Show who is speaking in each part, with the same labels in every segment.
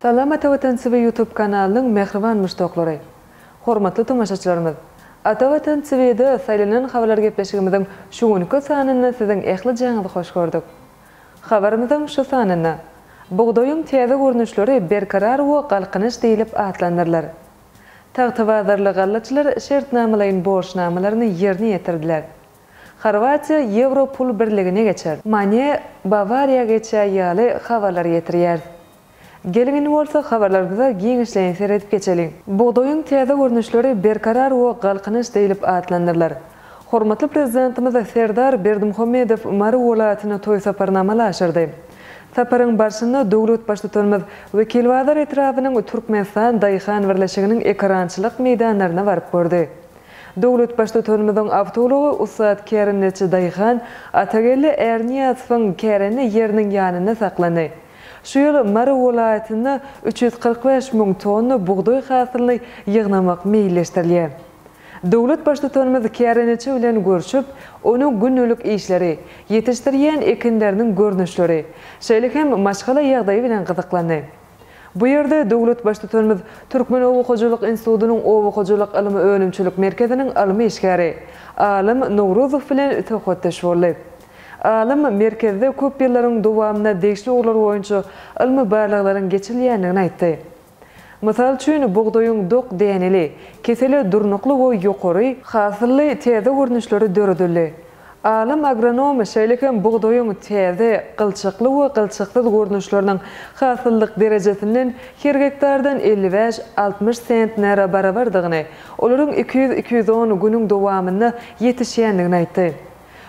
Speaker 1: Salam Ata Watan TV YouTube kanalynyň mähriban muşdaklary! Hormatly tomaşaçylarymyz! Ata Watan TV-de Saýlanan habarlar gepleşigimiziň şu günki sanynda siziň ähli jaňyzy hoş gördük. Habarymyzyň şu sanynda Bugdaýyň täze görnüşleri Berkarar we Galkynyş diýlip atlandyrylar. Tagtabazarly gallaçylar şertnamalaýyn borçnamalaryny ýerine ýetirdiler. Horwatiýa Ýewro pul birligine geçer. Mane, Bawariýa geçýär ýaly habarlar ýetirýäris. Geliň indi bolsa habarlarymyza giňişleýin seredip geçeliň. Bugdaýyň täze görnüşleri Berkarar we Galkynyş diýlip atlandyrylar. Hormatly Prezidentimiz Serdar Berdimuhamedow Mary welaýatyna toý saparyny amala aşyrdy. Saparyň barşynda döwlet Baştutanymyz Wekilbazar etrabynyň Türkmenistan daýhan birleşiginiň ekerançylyk meýdanlaryna baryp gördi. Döwlet Baştutanymyzyň awtoulagy ussat kärendeçi daýhan Atageldi Ärniýazowyň kärende ýeriniň ýanynda saklandy. Şu ýyl Mary welaýatynda üç ýüz kyrk bäş müň tonna bugdaý hasylyny ýygnamak meýilleşdirilýär. Döwlet Baştutanymyz kärendeçi bilen görşüp, onuň gündelik işleri, ýetişdirýän ekinleriniň görnüşleri, şeýle hem maşgala ýagdaýy bilen gyzyklandy. Bu ýerde döwlet Baştutanymyz Türkmen oba hojalyk institutynyň oba hojalyk ylmy-önümçilik merkeziniň ylmy işgäri, alym Nowruzow bilen söhbetdeş boldy. Alym merkezde köp ýyllaryň dowamynda degişli ugurlar boýunça ylmy barlaglaryň geçirilýändigini aýtdy. Mysal üçin, bugdaýyň dok däneli, kesele durnukly we ýokary. Hasylly täze görnüşleri döredildi. Alym agronom şeýle hem bugdaýyň täze, gylçakly we gylçaksyz görnüşleriniň hasyllyk derejesinden her gektardan elli bäş, altmyş sentnere barabardygyny, olaryň iki ýüz, iki ýüz on günüň dowamynda ýetişýändigini aýtdy.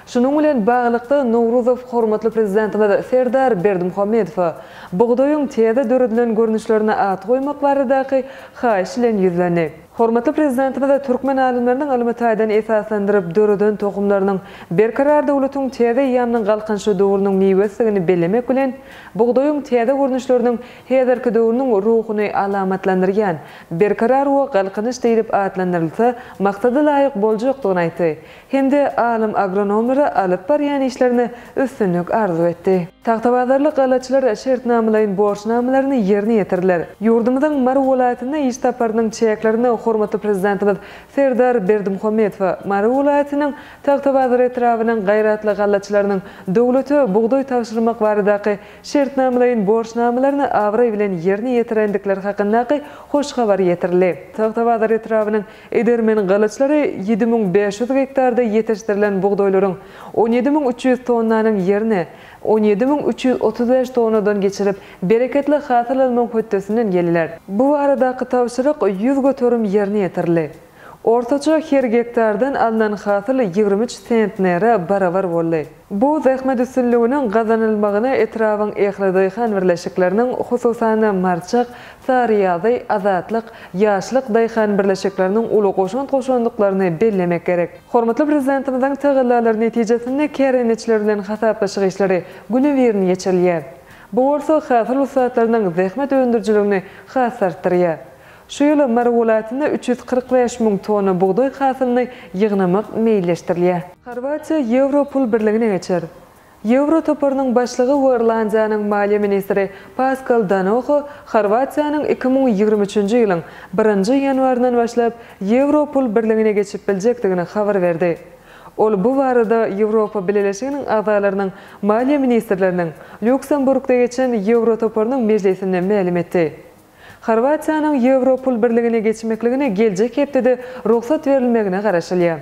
Speaker 1: Şunuň bilen baglylykda, Nowruzow hormatly Prezidentimiz Serdar Berdimuhamedowa bugdaýyň täze döredilen görnüşlerine at goýmak baradaky haýyş bilen ýüzlendi. Hormatly Prezidentimiz türkmen alymlarynyň ylmy taýdan esaslandyryp döreden tohumlarynyň Berkarar döwletiň täze eýýamynyň Galkynyşy döwrüniň miwesidigini bellemek bilen, bugdaýyň täze görnüşleriniň häzirki döwrüniň ruhuny alamatlandyrýan Berkarar we Galkynyş diýlip atlandyrylsa, maksada laýyk boljakdygyny aýtdy. hem-de alym agronomlara alyp barýan işlerine üstünlik arzuw etdi. Tagtabazarly galaçylar şertnamalaýyn borçnamalaryny ýerine ýetirdiler. Ýurdumyzyň Mary welaýatyna iş saparynyň çäklerinde hormatly Prezidentimiz Serdar Berdimuhamedowa Mary welaýatynyň Tagtabazar etrabynyň gaýratly galaçylarynyň döwlete bugdaý tabşyrmak baradaky şertnamalaýyn borçnamalaryny abraý bilen ýerine ýetirendikleri hakyndaky hoş habar ýetirildi. Tagtabazar etrabynyň Edermen gylyçlary ýedi müň bäş ýüz gektarda ýetişdirilen bugdaýlaryň on ýedi müň üç ýüz tonnanyň ýerini on ýedi müň üç ýüz otuz bäş tonnadan geçirip, bereketli hasyl almagyň hötdesinden geldiler. Bu baradaky tabşyryk ýüz göterim ýerine ýetirildi. Ortaça her gektardan alnan hasyl ýigrimi üç sentnere barabar boldy. Bu zähmet üstünliginiň gazanylmagyna etrabyň ähli daýhan birleşikleriniň, hususan-da, Marçak, Saryýazy, Azatlyk, Ýaşlyk daýhan birleşikleriniň uly goşant goşandyklaryny bellemek gerek. Hormatly Prezidentimiziň tagallalary netijesinde kärendeçiler bilen hasaplaşyk işleri günübirin geçirilýär. Bu bolsa hasyl ussatlarynyň zähmet öndürijiligini has artdyrýar. Şu ýyl Mary welaýatynda üç ýüz kyrk bäş müň tonna bugdaý hasylyny ýygnamak meýilleşdirilýär. Horwatiýa Ýewro pul birligine geçer. Ýewro toparynyň başlygy we Irlandiýanyň maliýe ministri Paskal Danoho Horwatiýanyň iki müň ýigrimi üçünji ýylyň birinji ýanwaryndan başlap Ýewro pul birligine geçip biljekdigini habar berdi. Ol bu barada Ýewropa Bileleşiginiň agzalarynyň maliýe ministrleriniň Lýuksemburgda geçen Ýewro toparynyň mejlisinde mälim etdi. Horwatiýanyň Ýewro pul birligine geçmekligine geljek hepdede rugsat berilmegine garaşylýar.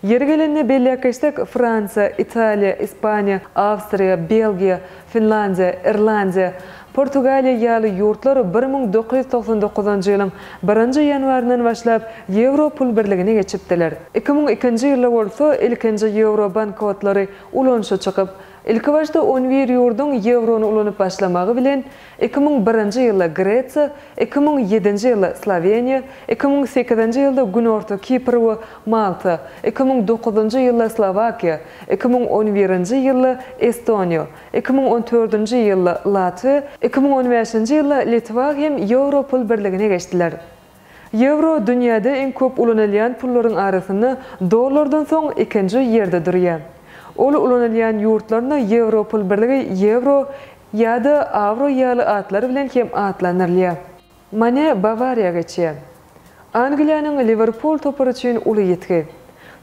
Speaker 1: Ýeri gelende belläp geçsek, Fransiýa, Italiýa, Ispaniýa, Awstriýa, Belgiýa, Finlandiýa, Irlandiýa, Portugaliýa ýaly ýurtlar bir müň dokuz ýüz togsan dokuzynjy ýylyň birinji ýanwaryndan başlap Ýewro pul birligine geçipdiler. Iki müň ikinji ýylda bolsa ilkinji ýewro bankotlary ulanyşa çykyp, ilkibaşda on bir ýurduň ýewrony ulanyp başlamagy bilen, Iki müň birinji ýylda Gresiýa, iki müň ýedinji ýylda Sloweniýa, iki müň sekizinji ýylda Günorta Kipr we Malta, iki müň dokuzynjy ýylda Slowakiýa, iki müň on birinji ýylda Estoniýa, iki müň on dördünji ýylda Latwiýa, iki müň on bäşinji ýylda Litwa hem Ýewro pul birligine geçdiler. Ýewro dünýäde iň köp ulanylýan pullaryň arasynda dollardan soň ikinji ýerde durýar. Ol ulanylýan ýurtlarynda Ýewro pul birligi ýewro Ýa-da Awro ýaly atlar bilen hem atlandyrylýar. Mane Bawariýa geçýär. Angliýanyň Liwerpul topary üçin uly ýitgi.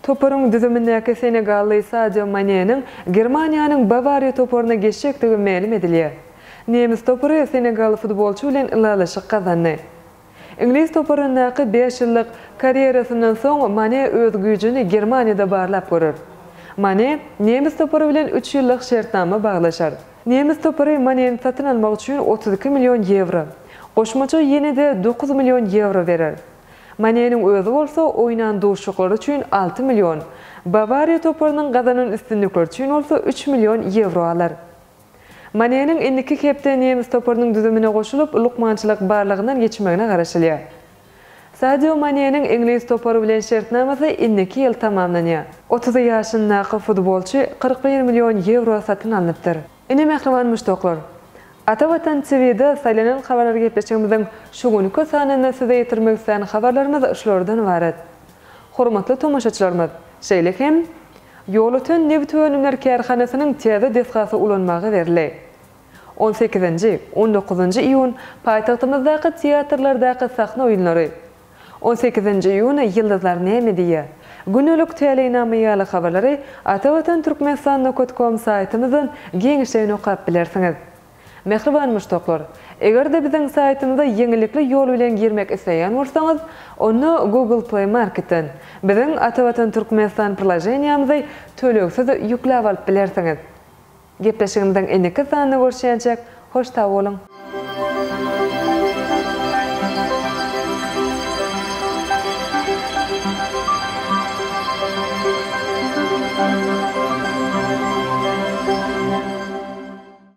Speaker 1: Toparyň düzümindäki senegally Sadio Maneniň Germaniýanyň Bawariýa toparyna geçjekdigi mälim edilýär. Nemes topary senegaly futbolçy bilen ylalaşyk gazandy. Iňlis toparyndaky bäş ýyllyk karýerasyndan soň Mane öz güýjüni Germaniýada barlap görer. Mane nemes topary bilen üç ýyllyk şertnama baglaşar. Nemes topary Maneni satyn almak üçin otuz iki million ýewro, goşmaça ýene-de dokuz million ýewro berer. Maneniň özi bolsa oýnan duşuşyklary üçin alty million, Bawariýa toparynyň gazanan üstünlikleri üçin bolsa üç million ýewro alar. Maneniň indiki hepde nemes toparynyň düzümine goşulyp, lukmançylyk barlagyndan geçmegine garaşylýar. Sadio Maneniň iňlis topary bilen şertnamasy indiki ýyl tamamlanýar. Otuz ýaşyndaky futbolçy kyrk bir million ýewro satyn alnypdyr. Ine mähriban muşdaklar! Ata Watan TV-de saýlanan habarlar gepleşigimiziň şu günki sanynda size ýetirmek islän habarlarymyz şulardan ybarat. Hormatly tomaşaçylarymyz, şeýle hem Ýolöten nebit önümler kärhanasynyň täze desgasy ulanmaga berildi. On sekizinji, on dokuzynjy iýun paýtagtymyzdaky teatrlardaky sahna oýunlary, On sekizinji iýun Ýyldyzlar näme diýýär? Gündelik täleýnama ýaly habarlary atavatan Turkmenistan nokot kom saýtymyzdan giňişleýin okap bilersiňiz. Mähriban muşdaklar! Eger-de biziň saýtymyza ýeňillikli ýol bilen girmek isleýän bolsaňyz, onda Google Play Marketden biziň Atavatan Türkmenistan priloženiýamyzy tölegsiz ýükläp alyp bilersiňiz. Gepleşigimiziň indiki sanynda görüşýänçäk, hoş sag boluň!